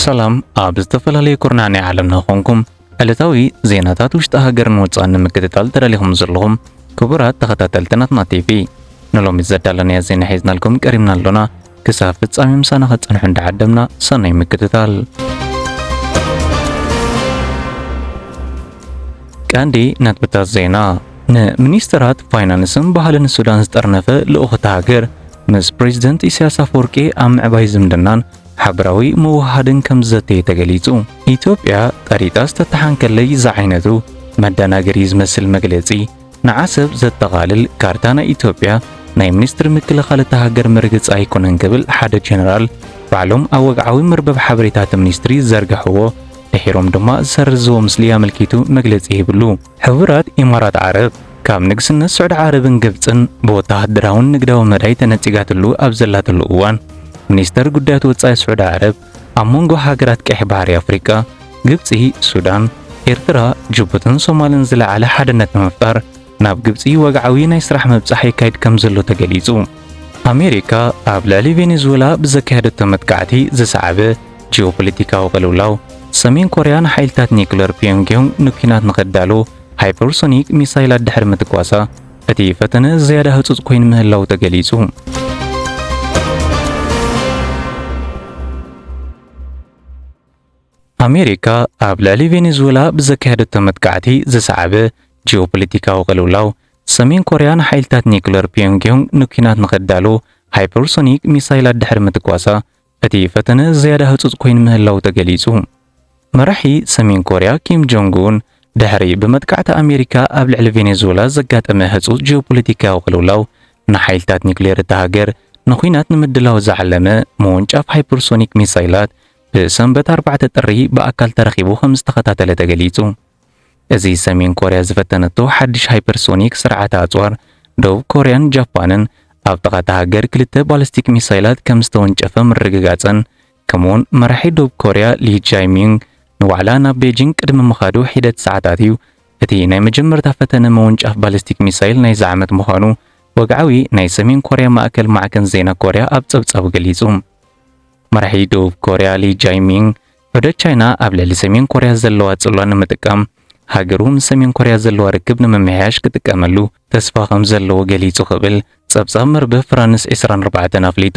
ሰላም ኣብ ዝተፈላለዩ ኩርናዕ ናይ ዓለምና ኮንኩም ዕለታዊ ዜናታት ውሽጢ ሃገርን ወፃእን ንምክትታል ተዳሊኹም ዘለኹም ክቡራት ተኸታተልቲ ናትና ቲቪ ንሎሚ ዘዳለናዮ ዜና ሒዝናልኩም ቀሪብና ኣሎና። ክሳብ ፍጻሜ ምሳና ክትጸንሑ እንዳዓደምና ሰናይ ምክትታል። ቀንዲ ነጥብታት ዜና ንሚኒስትራት ፋይናንስን ባህልን ሱዳን ዝጠርነፈ ልኡኽ እታ ሃገር ምስ ፕሬዚደንት ኢሳያስ ኣፈወርቂ ኣብ ምዕባይ ዝምድናን ሓበራዊ ምውህሃድን ከም ዝዘተየ ተገሊጹ። ኢትዮጵያ ቀሪጣ ዝተተሓንከለይ ዝዓይነቱ መደናገሪ ዝመስል መግለጺ ንዓሰብ ዘጠቓልል ካርታ ናይ ኢትዮጵያ ናይ ሚኒስትሪ ምክልኻል እታ ሃገር መርገጺ ኣይኮነን ክብል ሓደ ጀነራል ባዕሎም ኣብ ወግዓዊ መርበብ ሓበሬታ እቲ ሚኒስትሪ ዝዘርግሕዎ ድሒሮም ድማ ዝሰርዝዎ ምስሊ ኣመልኪቱ መግለጺ ሂብሉ። ሕቡራት ኢማራት ዓረብ ካብ ንግስነት ስዑዲ ዓረብን ግብጽን ብወተሃደራውን ንግዳዊ መዳይ ተነጺጋትሉ ኣብ ዘላትሉ እዋን ሚኒስተር ጉዳያት ወጻኢ ስዑዲ ዓረብ ኣብ መንጎ ሃገራት ቀይሕ ባሕሪ ኣፍሪቃ፣ ግብጺ፣ ሱዳን፣ ኤርትራ፣ ጅቡትን ሶማልን ዝለዓለ ሓድነት ንምፍጣር ናብ ግብጺ ወግዓዊ ናይ ስራሕ ምብጻሕ የካይድ ከምዘሎ ተገሊጹ። ኣሜሪካ ኣብ ልዕሊ ቬኔዙዌላ ብዘካየደቶ መጥቃዕቲ ዝሰዓበ ጂኦፖለቲካዊ ቅልውላው፣ ሰሜን ኮርያ ንሓይልታት ኒኩለር ፒዮንግዮንግ ንኲናት ንኸዳሉ ሃይፐርሶኒክ ሚሳይላት ድሕሪ ምትኳሳ፣ እቲ ፈተነ ዝያዳ ህጹጽ ኮይኑ ምህላዉ ተገሊጹ። ኣሜሪካ ኣብ ልዕሊ ቬኔዙዌላ ብዘካየደቶ መጥቃዕቲ ዝሰዓበ ጂኦፖለቲካዊ ቅልውላው፣ ሰሜን ኮርያ ንሓይልታት ኒኩለር ፒዮንግዮንግ ንኲናት ንኸዳሉ ሃይፐርሶኒክ ሚሳይላት ድሕሪ ምትኳሳ እቲ ፈተነ ዝያዳ ህጹጽ ኮይኑ ምህላዉ ተገሊጹ። መራሒ ሰሜን ኮርያ ኪም ጆንግ ኡን፣ ድሕሪ ብመጥቃዕቲ ኣሜሪካ ኣብ ልዕሊ ቬኔዙዌላ ዘጋጠመ ህጹጽ ጂኦፖለቲካዊ ቅልውላው፣ ንሓይልታት ኒዩክሌር እታ ሃገር ንኲናት ንምድላው ዝዓለመ ምውንጫፍ ሃይፐርሶኒክ ሚሳይላት ብሰንበት ኣርባዕተ ጥሪ ብኣካል ተረኺቡ ከምዝተኸታተለ ተገሊጹ። እዚ ሰሜን ኮርያ ዝፈተነቶ ሓድሽ ሃይፐርሶኒክ ስርዓተ ኣጽዋር፣ ደቡብ ኮርያን ጃፓንን ኣብ ጥቓ እታ ሃገር ክልተ ባለስቲክ ሚሳይላት ከም ዝተወንጨፈ ምርግጋጸን፣ ከምኡ'ውን መራሒ ደቡብ ኮርያ ሊ ጃይ-ሚዩንግ ንዋዕላ ናብ ቤጂንግ ቅድሚ ምኻዱ ሒደት ሰዓታት እዩ። እቲ ናይ መጀመርታ ፈተነ ምውንጫፍ ባለስቲክ ሚሳይል ናይዚ ዓመት ምዃኑ ወግዓዊ ናይ ሰሜን ኮርያ ማእከል ማዕከን ዜና ኮርያ ኣብ ጸብጻቡ ገሊጹ። መራሒ ደቡብ ኮርያ ሊ ጃይ-ሚዩንግ ዑደት ቻይና ኣብ ልዕሊ ሰሜን ኮርያ ዘለዋ ጽልዋ ንምጥቃም፣ ሃገሩ ምስ ሰሜን ኮርያ ዘለዋ ርክብ ንምምሕያሽ ክጥቀመሉ ተስፋ ከም ዘለዎ ገሊጹ ክብል ጸብጻብ መርበብ ፍራንስ ዕስራን ኣርባዕተን ኣፍሊጡ።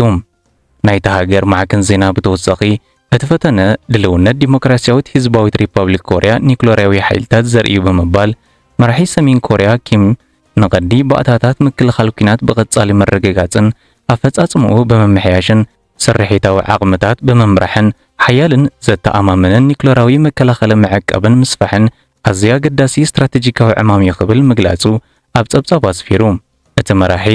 ናይታ ሃገር ማዕከን ዜና ብተወሳኺ፣ እቲ ፈተነ ድልውነት ዲሞክራስያዊት ህዝባዊት ሪፓብሊክ ኮርያ ኒዩክለርያዊ ሓይልታት ዘርኢ'ዩ ብምባል፣ መራሒ ሰሜን ኮርያ ኪም ንቐዲ ባእታታት ምክልኻል ኲናት ብቐጻሊ ምርግጋጽን ኣፈጻጽምኡ ብምምሕያሽን ስርሒታዊ ዓቕምታት ብምምራሕን ሓያልን ዘተኣማምንን ኒዩክለራዊ መከላኸሊ ምዕቃብን ምስፋሕን ኣዝዩ ኣገዳሲ ስትራተጂካዊ ዕማም'ዩ ክብል ምግላጹ ኣብ ጸብጻቡ ኣስፊሩ። እቲ መራሒ፣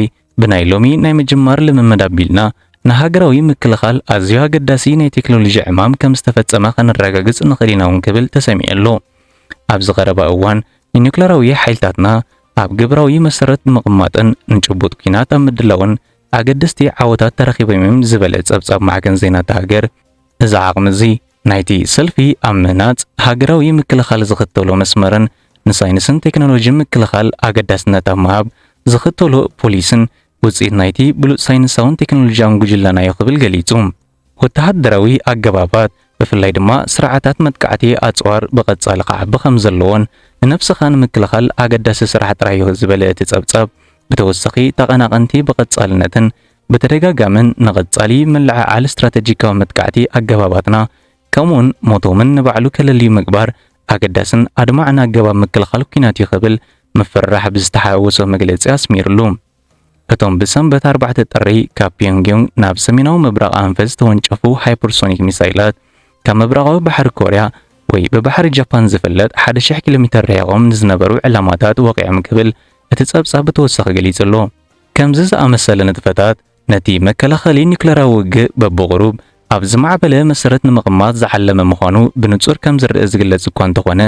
ብናይ ሎሚ ናይ ምጅማር ልምምድ ኣቢልና፣ ንሃገራዊ ምክልኻል ኣዝዩ ኣገዳሲ ናይ ቴክኖሎጂ ዕማም ከም ዝተፈጸመ ከነረጋግጽ ንኽእል ኢና'ውን ክብል ተሰሚዑ ኣሎ። ኣብዚ ቀረባ እዋን ንኒዩክለራዊ ሓይልታትና ኣብ ግብራዊ መሰረት ንምቕማጥን ንጭቡጥ ኲናት ኣብ ምድላውን ኣገደስቲ ዓወታት ተረኺቦም'ዮም ዝበለ ጸብጻብ ማዕከን ዜና'ታ ሃገር፣ እዚ ዓቕሚ'ዚ ናይቲ ሰልፊ ኣብ ምህናጽ ሃገራዊ ምክልኻል ዝኽተሎ መስመርን ንሳይንስን ቴክኖሎጂን ምክልኻል ኣገዳስነት ኣብ ምሃብ ዝኽተሎ ፖሊስን ውጽኢት ናይቲ ብሉጽ ሳይንሳውን ቴክኖሎጂያውን ጉጅለና'ዩ ክብል ገሊጹ። ወተሃደራዊ ኣገባባት፣ ብፍላይ ድማ ስርዓታት መጥቃዕቲ ኣጽዋር ብቐጻሊ ክዓቢ ከም ዘለዎን ንነብስኻ ንምክልኻል ኣገዳሲ ስራሕ ጥራይዮ ዝበለ እቲ ጸብጻብ፣ ብተወሳኺ ተቐናቐንቲ ብቐጻልነትን ብተደጋጋምን ንቐጻሊ ምልዕዓል ስትራተጂካዊ መጥቃዕቲ ኣገባባትና ከምኡውን ሞቶምን ንባዕሉ ከለልዩ ምግባር ኣገዳስን ኣድማዕን ኣገባብ ምክልኻል ኲናትዩ ክብል ምፍርራሕ ብዝተሓዋወሶ መግለጺ ኣስሚርሉ። እቶም ብሰንበት ኣርባዕተ ጥሪ ካብ ፒዮንግዮንግ ናብ ሰሜናዊ ምብራቕ ኣንፈት ዝተወንጨፉ ሃይፐርሶኒክ ሚሳይላት ካብ ምብራቓዊ ባሕሪ ኮርያ ወይ ብባሕሪ ጃፓን ዝፍለጥ ሓደ ሽሕ ኪሎ ሜተር ርሒቖም ንዝነበሩ ዕላማታት ወቒዖም ክብል እቲ ጸብጻብ ብተወሳኺ ገሊጹ ኣሎ። ከምዚ ዝኣመሰለ ንጥፈታት ነቲ መከላኸሊ ኒዩክለራዊ ውግእ በብቑሩብ ኣብ ዝማዕበለ መሰረት ንምቕማጥ ዝዓለመ ምዃኑ ብንጹር ከም ዝርኣ ዝግለጽ እኳ እንተኾነ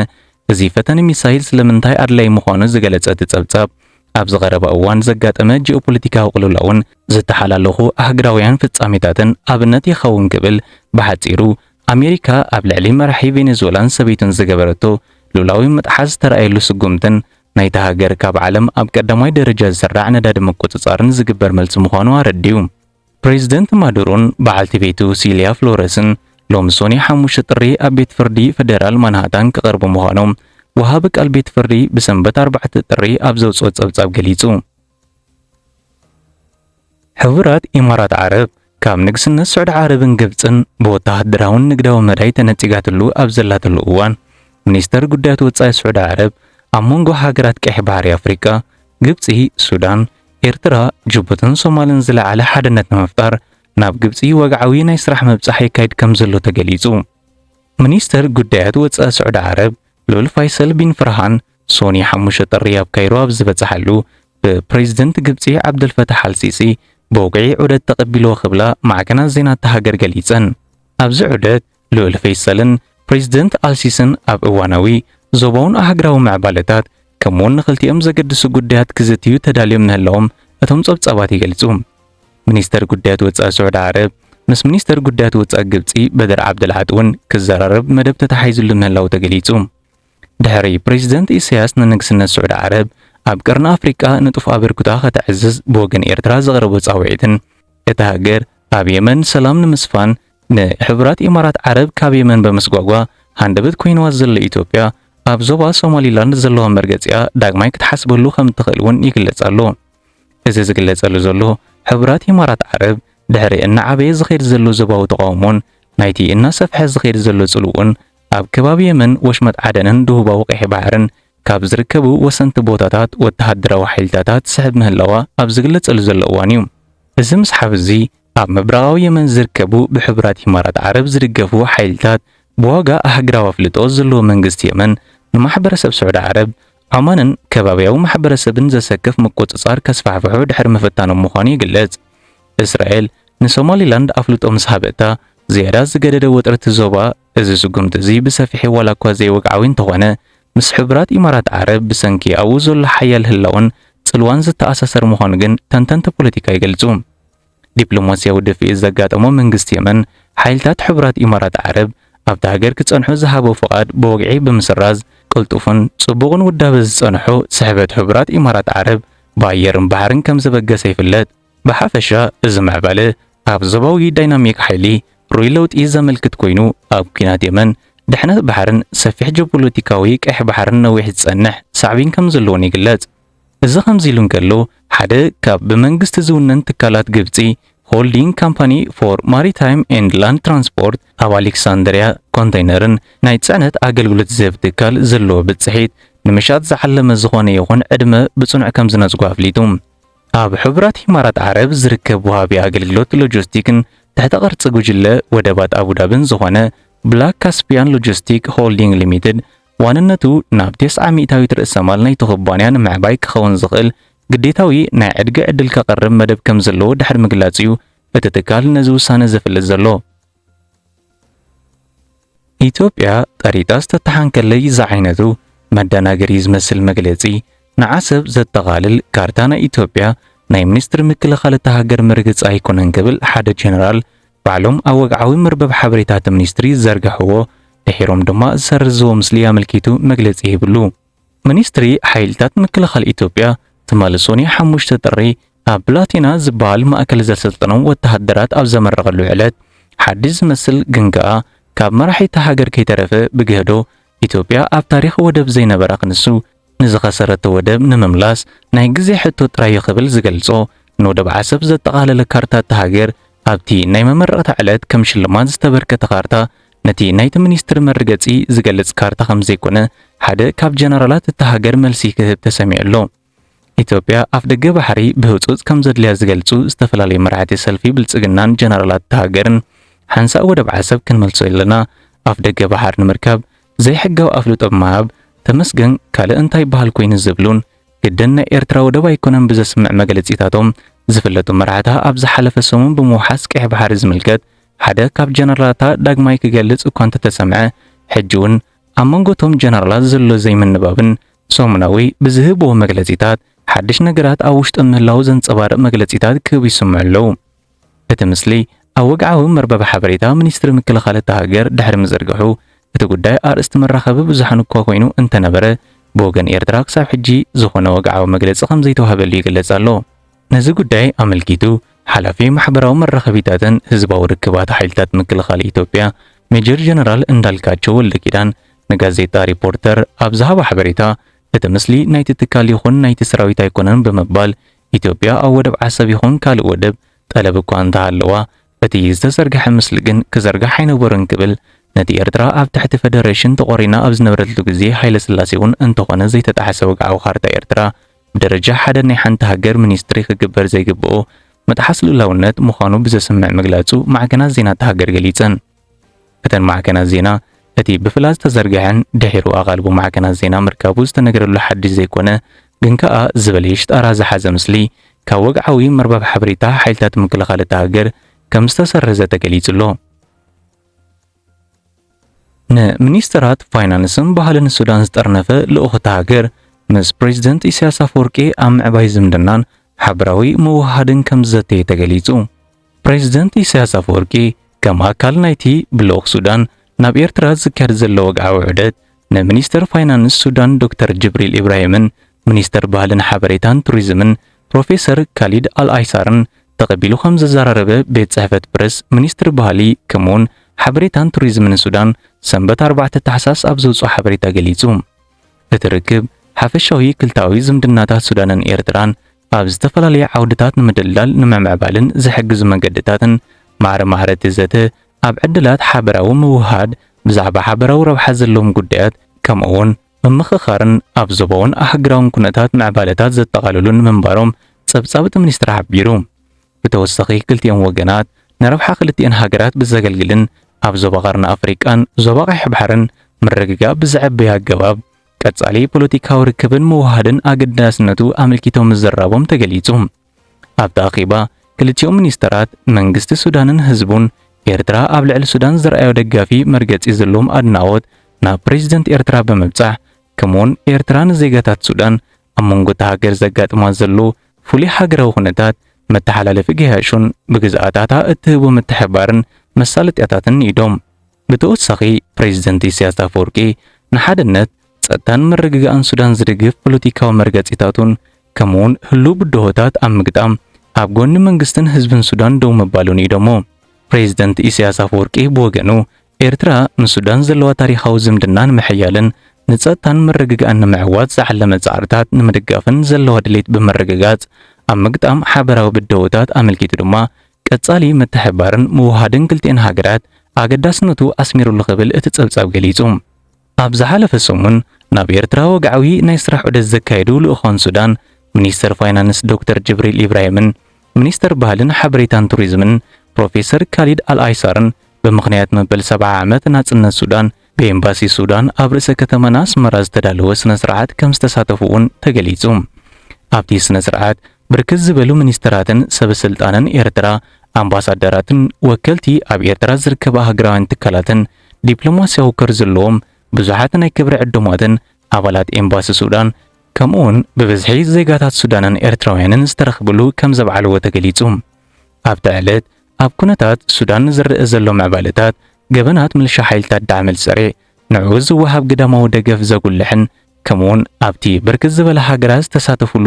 እዚ ፈተነ ሚሳይል ስለምንታይ ኣድላዪ ምዃኑ ዝገለጸ እቲ ጸብጻብ ኣብዚ ቀረባ እዋን ዘጋጠመ ጂኦፖለቲካዊ ቅልውላውን ዝተሓላለኹ ኣህግራውያን ፍጻሜታትን ኣብነት ይኸውን ክብል ብሓጺሩ ኣሜሪካ ኣብ ልዕሊ መራሒ ቬኔዙዌላን ሰበይቱን ዝገበረቶ ሉላዊ ምጥሓስ ዝተራእየሉ ስጉምትን ናይታ ሃገር ካብ ዓለም ኣብ ቀዳማይ ደረጃ ዝስራዕ ነዳዲ ምቁጽጻርን ዝግበር መልሲ ምዃኑ ኣረዲኡ። ፕሬዝደንት ማዱሮን በዓልቲ ቤቱ ሲልያ ፍሎረስን ሎሚ ሶኒ ሓሙሽተ ጥሪ ኣብ ቤት ፍርዲ ፈደራል ማንሃታን ክቐርቡ ምዃኖም ወሃቢ ቃል ቤት ፍርዲ ብሰንበት ኣርባዕተ ጥሪ ኣብ ዘውጽኦ ጸብጻብ ገሊጹ። ሕቡራት ኢማራት ዓረብ ካብ ንግስነት ስዑዲ ዓረብን ግብጽን ብወተሃደራውን ንግዳዊ መዳይ ተነጺጋትሉ ኣብ ዘላትሉ እዋን ሚኒስተር ጉዳያት ወጻኢ ስዑዲ ዓረብ ኣብ መንጎ ሃገራት ቀይሕ ባሕሪ ኣፍሪቃ፣ ግብጺ፣ ሱዳን፣ ኤርትራ፣ ጅቡትን ሶማልን ዝለዓለ ሓድነት ንምፍጣር ናብ ግብጺ ወግዓዊ ናይ ስራሕ ምብጻሕ የካይድ ከምዘሎ ተገሊጹ። ሚኒስተር ጉዳያት ወጻኢ ስዑዲ ዓረብ ልኡል ፋይሰል ቢን ፈርሃን ሶኑይ ሓሙሽተ ጥሪ ኣብ ካይሮ ኣብ ዝበጽሓሉ ብፕረዚደንት ግብጺ ዓብደልፈታሕ ኣልሲሲ ብወግዒ ዑደት ተቐቢልዎ ክብላ ማዕከናት ዜና እታ ሃገር ገሊጸን። ኣብዚ ዑደት ልኡል ፈይሰልን ፕሬዚደንት ኣልሲስን ኣብ እዋናዊ ዞባውን ኣህግራዊ ምዕባለታት ከምኡውን ንኽልቲኦም ዘገድሱ ጉዳያት ክዝትዩ ተዳልዮም ምህላዎም እቶም ጸብጻባት ይገልጹ። ሚኒስተር ጉዳያት ወጻኢ ስዑዲ ዓረብ ምስ ሚኒስተር ጉዳያት ወጻኢ ግብጺ በደር ዓብደልዓጥ እውን ክዘራረብ መደብ ተታሓሒዝሉ ምህላዉ ተገሊጹ። ድሕሪ ፕሬዚደንት ኢሳያስ ንንግስነት ስዑዲ ዓረብ ኣብ ቀርኒ ኣፍሪቃ ንጡፍ ኣበርክቶኣ ከተዕዝዝ ብወገን ኤርትራ ዘቕረቦ ጻውዒትን እታ ሃገር ኣብ የመን ሰላም ንምስፋን ንሕቡራት ኢማራት ዓረብ ካብ የመን በምስጓጓ ሃንደበት ኮይንዋ ዘሎ ኢትዮጵያ፣ ኣብ ዞባ ሶማሊላንድ ዘለዋ መርገጺኣ ዳግማይ ክትሓስበሉ ከምትኽእል'ውን ይግለጽ ኣሎ። እዚ ዝግለጸሉ ዘሎ፣ ሕቡራት ኢማራት ዓረብ ድሕሪ እናዓበየ ዝኸይድ ዘሎ ዞባዊ ተቓውሞን ናይቲ እናሰፍሐ ዝኸይድ ዘሎ ጽልውኡን ኣብ ከባቢ የመን፣ ወሽመጥ ዓደንን ደቡባዊ ቀይሕ ባሕርን ካብ ዝርከቡ ወሰንቲ ቦታታት ወተሃደራዊ ሓይልታታ ትስሕብ ምህላዋ ኣብ ዝግለጸሉ ዘሎ እዋን'ዩ። እዚ ምስሓብ እዚ፣ ኣብ ምብራቓዊ የመን ዝርከቡ ብሕቡራት ኢማራት ዓረብ ዝድገፉ ሓይልታት ብዋጋ ኣህግራዊ ኣፍልጦ ዘለዎ መንግስቲ የመን ንማሕበረሰብ ስዑዲ ዓረብ፣ ዖማንን ከባብያዊ ማሕበረሰብን ዘሰክፍ ምቁጽጻር ከስፋሕፍሑ ድሕሪ ምፍታኖም ምዃኑ ይግለጽ። እስራኤል ንሶማሊላንድ ኣፍልጦ ምስ ሃበታ ዝያዳ ዝገደደ ወጥሪ እቲ ዞባ እዚ ስጉምቲ እዚ ብሰፊሒ ዋላ እኳ ዘይወግዓዊ እንተኾነ ምስ ሕቡራት ኢማራት ዓረብ ብሰንኪ ኣብኡ ዘሎ ሓያል ህላወን ጽልዋን ዝተኣሳሰር ምዃኑ ግን ተንተንቲ ፖለቲካ ይገልጹ። ዲፕሎማስያዊ ድፍኢት ዘጋጠሞ መንግስቲ የመን፣ ሓይልታት ሕቡራት ኢማራት ዓረብ ኣብታ ሃገር ክጸንሑ ዝሃቦ ፍቓድ ብወግዒ ብምስራዝ፣ ቅልጡፍን ጽቡቕን ውዳበ ዝጸንሖ ስሕበት ሕቡራት ኢማራት ዓረብ ብኣየርን ባሕርን ከምዘበገሰ ይፍለጥ። ብሓፈሻ እዚ ምዕባለ ኣብ ዞባዊ ዳይናሚክ ሓይሊ ርኡይ ለውጢ ዘመልክት ኮይኑ፣ ኣብ ኲናት የመን፣ ድሕነት ባሕርን ሰፊሕ ጂኦፖለቲካዊ ቀይሕ ባሕርን ነዊሕ ዝጸንሕ ሳዕቤን ከምዘለዎን ይግለጽ። እዚ ከምዚ ኢሉ እንከሎ፣ ሓደ ካብ ብመንግስቲ ዝውነን ትካላት ግብጺ፣ ሆልዲንግ ካምፓኒ ፎር ማሪታይም ኤንድ ላንድ ትራንስፖርት ኣብ ኣሌክሳንድርያ ኮንተይነርን ናይ ጽዕነት ኣገልግሎት ዝህብ ትካል ዘለዎ ብጽሒት ንምሻጥ ዝዓለመ ዝኾነ ይኹን ዕድመ ብጽኑዕ ከምዝነጽጎ ኣፍሊጡ። ኣብ ሕቡራት ኢማራት ዓረብ ዝርከብ ወሃቢ ኣገልግሎት ሎጂስቲክን ትሕተ ቅርጺ ጉጅለ ወደባት ኣቡዳብን ዝኾነ ብላክ ካስፒያን ሎጂስቲክ ሆልዲንግ ሊሚትድ ዋንነቱ ናብ ቴስዓ ሚእታዊት ርእሰ ማል ናይቲ ኩባንያ ንምዕባይ ክኸውን ዝኽእል ግዴታዊ ናይ ዕድጊ ዕድል ከቕርብ መደብ ከም ዘለዎ ድሕሪ ምግላጽ እዩ እቲ ትካል ነዚ ውሳነ ዘፍልጥ ዘሎ። ኢትዮጵያ ጠሪጣ ዝተተሓንከለይ ዝዓይነቱ መደናገሪ ዝመስል መግለጺ ንዓሰብ ዘጠቓልል ካርታ ናይ ኢትዮጵያ ናይ ሚኒስትሪ ምክልኻል እታ ሃገር ምርግጽ ኣይኮነን ክብል ሓደ ጀነራል ባዕሎም ኣብ ወግዓዊ መርበብ ሓበሬታ እቲ ሚኒስትሪ ዝዘርገሕዎ፣ ድሒሮም ድማ ዝሰርዝዎ ምስሊ ኣመልኪቱ መግለጺ ሂብሉ። ሚኒስትሪ ሓይልታት ምክልኻል ኢትዮጵያ ትማሊ ሰኑይ ሓሙሽተ ጥሪ ኣብ ብላቴና ዝበሃል ማእከል ዘሰልጠኖም ወተሃደራት ኣብ ዘመረቐሉ ዕለት ሓድሽ ዝመስል ግን ከኣ ካብ መራሒ እታ ሃገር ከይተረፈ ብግህዶ ኢትዮጵያ ኣብ ታሪኽ ወደብ ዘይነበራ ክንሱ ንዝኸሰረቶ ወደብ ንምምላስ ናይ ግዜ ሕቶ ጥራይ'ዩ ክብል ዝገልጾ ንወደብ ዓሰብ ዘጠቓለለ ካርታ እታ ሃገር፣ ኣብቲ ናይ መመረቕታ ዕለት ከም ሽልማት ዝተበርከተ ካርታ፣ ነቲ ናይቲ ሚኒስትሪ መርገጺ ዝገልጽ ካርታ ከምዘይኮነ ሓደ ካብ ጀነራላት እታ ሃገር መልሲ ክህብ ተሰሚዑ ኣሎ። ኢትዮጵያ ኣፍደገ ባሕሪ ብህጹጽ ከምዘድልያ ዝገልጹ ዝተፈላለዩ መራሕቲ ሰልፊ ብልጽግናን ጀነራላት እታ ሃገርን፣ ሓንሳእ ወደብ ዓሰብ ክንመልሶ ኣለና፣ ኣፍደገ ባሕር ንምርካብ ዘይሕጋዊ ኣፍልጦ ብምሃብ ተመስገን ካልእ እንታይ በሃል ኮይኑ ዝብሉን ግድን ናይ ኤርትራ ወደብ ኣይኮነን ብዘስምዕ መግለጺታቶም ዝፍለጡ መራሕታ ኣብ ዝሓለፈ ሰሙን ብምውሓስ ቀይሕ ባሕሪ ዝምልከት ሓደ ካብ ጀነራላታ ዳግማይ ክገልጽ እኳ እንተተሰምዐ ሕጂውን ኣብ መንጎ እቶም ጀነራላት ዘሎ ዘይምንባብን ሰሙናዊ ብዝህብዎ መግለጺታት ሓድሽ ነገራት ኣብ ውሽጦም ምህላዉ ዘንጸባርቕ መግለጺታት ክህቡ ይስምዑ ኣለዉ። እቲ ምስሊ ኣብ ወግዓዊ መርበብ ሓበሬታ ሚኒስትሪ ምክልኻል እታ ሃገር ድሕሪ ምዝርግሑ፣ እቲ ጉዳይ ኣርእስቲ መራኸቢ ብዙሓን እኳ ኮይኑ እንተነበረ፣ ብወገን ኤርትራ ክሳብ ሕጂ ዝኾነ ወግዓዊ መግለጺ ከምዘይተዋህበሉ ይግለጽ ኣሎ። ነዚ ጉዳይ ኣመልኪቱ ሓላፊ ማሕበራዊ መራኸቢታትን ህዝባዊ ርክባት ሓይልታት ምክልኻል ኢትዮጵያ ሜጀር ጀነራል እንዳልካቸው ወልደኪዳን ንጋዜጣ ሪፖርተር ኣብ ዝሃቦ ሓበሬታ፣ እቲ ምስሊ ናይቲ ትካል ይኹን ናይቲ ሰራዊት ኣይኮነን ብምባል ኢትዮጵያ ኣብ ወደብ ዓሰብ ይኹን ካልእ ወደብ ጠለብ እኳ እንተሃለዋ፣ እቲ ዝተዘርግሐ ምስሊ ግን ክዘርጋሕ ኣይነበሮን ክብል ነቲ ኤርትራ ኣብ ትሕቲ ፈደረሽን ተቖሪና ኣብ ዝነበረትሉ ግዜ ሃይለስላሴ'ውን እንተኾነ ዘይተጣሕሰ ወግዓዊ ካርታ ኤርትራ ብደረጃ ሓደ ናይ ሓንቲ ሃገር ሚኒስትሪ ክግበር ዘይግበኦ ምጥሓስ ልኡላውነት ምዃኑ ብዘስምዕ ምግላጹ ማዕከናት ዜና እታ ሃገር ገሊጸን። እተን ማዕከናት ዜና፣ እቲ ብፍላጥ ዝተዘርግሐን ድሒሩ ኣቓልቦ ማዕከናት ዜና ምርካቡ ዝተነገረሉ ሓድሽ ዘይኮነ ግን ከኣ ዝበለየ ሽጣራ ዝሓዘ ምስሊ ካብ ወግዓዊ መርበብ ሓበሬታ ሓይልታት ምክልኻል እታ ሃገር ከም ዝተሰረዘ ተገሊጹ ኣሎ። ንሚኒስተራት ፋይናንስን ባህልን ሱዳን ዝጠርነፈ ልኡኽ እታ ሃገር ምስ ፕሬዝደንት ኢሳያስ ኣፈወርቂ ኣብ ምዕባይ ዝምድናን ሓበራዊ ምውህሃድን ከም ዝዘተየ ተገሊጹ። ፕረዚደንት ኢሳያስ ኣፈወርቂ ከም ኣካል ናይቲ ብልኡኽ ሱዳን ናብ ኤርትራ ዝካየድ ዘሎ ወግዓዊ ዑደት ንሚኒስተር ፋይናንስ ሱዳን ዶክተር ጅብሪል ኢብራሂምን ሚኒስተር ባህልን ሓበሬታን ቱሪዝምን ፕሮፌሰር ካሊድ ኣልኣይሳርን ተቐቢሉ ከም ዘዘራረበ ቤት ጽሕፈት ፕረስ ሚኒስትሪ ባህሊ ከምኡውን ሓበሬታን ቱሪዝምን ሱዳን ሰንበት ኣርባዕተ ታሕሳስ ኣብ ዘውጽኦ ሓበሬታ ገሊጹ። እቲ ርክብ ሓፈሻዊ ክልታዊ ዝምድናታት ሱዳንን ኤርትራን ኣብ ዝተፈላለየ ዓውድታት ንምድልዳል ንምምዕባልን ዝሕግዙ መገድታትን ማዕረ ማህረቲ ዘተ፣ ኣብ ዕድላት ሓበራዊ ምውህሃድ፣ ብዛዕባ ሓበራዊ ረብሓ ዘለዎም ጉዳያት፣ ከምኡ'ውን ምምኽኻርን ኣብ ዞባውን ኣህጉራውን ኩነታት ምዕባለታት ዘጠቓልሉን ምንባሮም ጸብጻብ እቲ ሚኒስትሪ ሓቢሩ። ብተወሳኺ ክልቲኦም ወገናት ንረብሓ ክልቲኤን ሃገራት ብዘገልግልን ኣብ ዞባ ቀርኒ ኣፍሪቃን ዞባ ቀይሕ ባሕርን ምርግጋእ ብዘዕብይ ኣገባብ ቀጻሊ ፖለቲካዊ ርክብን ምውህሃድን ኣገዳስነቱ ኣመልኪቶም ምዝራቦም ተገሊጹ። ኣብቲ ኣኼባ ክልቲኦም ሚኒስተራት፣ መንግስቲ ሱዳንን ህዝቡን፣ ኤርትራ ኣብ ልዕሊ ሱዳን ዘርኣዮ ደጋፊ መርገጺ ዘለዎም ኣድናቖት ናብ ፕረዚደንት ኤርትራ ብምብጻሕ፣ ከምኡ'ውን ኤርትራ ንዜጋታት ሱዳን ኣብ መንጎ እታ ሃገር ዘጋጥማ ዘሎ ፍሉይ ሃገራዊ ኩነታት፣ መተሓላለፊ ገያሹን ብግዝኣታታ እትህቦ ምትሕብባርን መሳለጥያታትን ንኢዶም። ብተወሳኺ ፕሬዚደንት ኢሳያስ ኣፈወርቂ ንሓድነት፣ ፀጥታን ምርግጋእን ሱዳን ዝድግፍ ፖለቲካዊ መርገፂታቱን ከምኡ ውን ህልው ብድሆታት ኣብ ምግጣም ኣብ ጎኒ መንግስትን ህዝብን ሱዳን ደው ምባሉ ንኢዶሞ። ፕሬዚደንት ኢሳያስ ኣፈወርቂ ብወገኑ ኤርትራ ንሱዳን ዘለዋ ታሪኻዊ ዝምድና ንምሕያልን ንፀጥታን ምርግጋእን ንምዕዋት ዝዓለመ ፃዕርታት ንምድጋፍን ዘለዋ ድሌት ብምርግጋፅ ኣብ ምግጣም ሓበራዊ ብደሆታት ኣመልኪቱ ድማ ቀጻሊ ምትሕብባርን ምውህሃድን ክልቲኤን ሃገራት ኣገዳስነቱ ኣስሚሩሉ ክብል እቲ ጸብጻብ ገሊጹ። ኣብ ዝሓለፈ ሰሙን ናብ ኤርትራ ወግዓዊ ናይ ስራሕ ዑደት ዘካየዱ ልኡካን ሱዳን፣ ሚኒስተር ፋይናንስ ዶክተር ጅብሪል ኢብራሂምን ሚኒስተር ባህልን ሓበሬታን ቱሪዝምን ፕሮፌሰር ካሊድ ኣልኣይሳርን ብምኽንያት መበል ሰብዓ ዓመት ናጽነት ሱዳን ብኤምባሲ ሱዳን ኣብ ርእሰ ከተማና ኣስመራ ዝተዳለወ ስነ ስርዓት ከም ዝተሳተፉ እውን ተገሊጹ። ኣብቲ ስነ ስርዓት ብርክት ዝበሉ ሚኒስተራትን ሰበ ስልጣንን ኤርትራ፣ ኣምባሳደራትን ወከልቲ ኣብ ኤርትራ ዝርከባ ሃገራውያን ትካላትን ዲፕሎማስያዊ ኮር ዘለዎም ብዙሓት ናይ ክብሪ ዕዱማትን ኣባላት ኤምባሲ ሱዳን ከምኡውን ብብዝሒ ዜጋታት ሱዳንን ኤርትራውያንን ዝተረኽብሉ ከም ዘብዓልዎ ተገሊጹ። ኣብታ ዕለት ኣብ ኩነታት ሱዳን ዝረኣ ዘሎ ምዕባለታት ገበናት ምልሻ ሓይልታት ዳዕመል ሰሬ ንዕኡ ዝወሃብ ግዳማዊ ደገፍ ዘጉልሕን ከምኡውን ኣብቲ ብርክት ዝበላ ሃገራት ዝተሳተፉሉ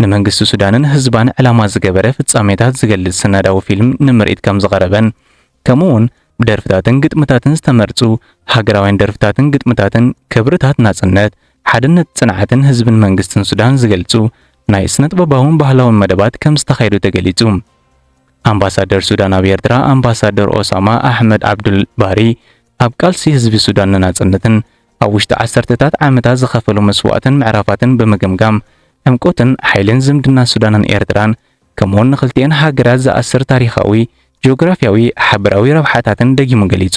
ንመንግስቲ ሱዳንን ህዝባን ዕላማ ዝገበረ ፍጻሜታት ዝገልጽ ስነዳዊ ፊልም ንምርኢት ከም ዝቐረበን ከምኡውን ብደርፍታትን ግጥምታትን ዝተመርጹ ሃገራውያን ደርፍታትን ግጥምታትን ክብርታት ናጽነት ሓድነት ጽንዓትን ህዝብን መንግስትን ሱዳን ዝገልጹ ናይ ስነጥበባውን ባህላውን መደባት ከም ዝተኻየዱ ተገሊጹ። ኣምባሳደር ሱዳን ኣብ ኤርትራ ኣምባሳደር ኦሳማ ኣሕመድ ዓብዱል ባሪ፣ ኣብ ቃልሲ ህዝቢ ሱዳን ንናጽነትን ኣብ ውሽጢ ዓሰርተታት ዓመታት ዝኸፈሎ መስዋእትን ምዕራፋትን ብምግምጋም፣ ዕምቆትን ሓይልን ዝምድና ሱዳንን ኤርትራን ከምኡ'ውን ንኽልቲኤን ሃገራት ዝኣስር ታሪኻዊ፣ ጂኦግራፍያዊ፣ ሓበራዊ ረብሓታትን ደጊሙ ገሊጹ።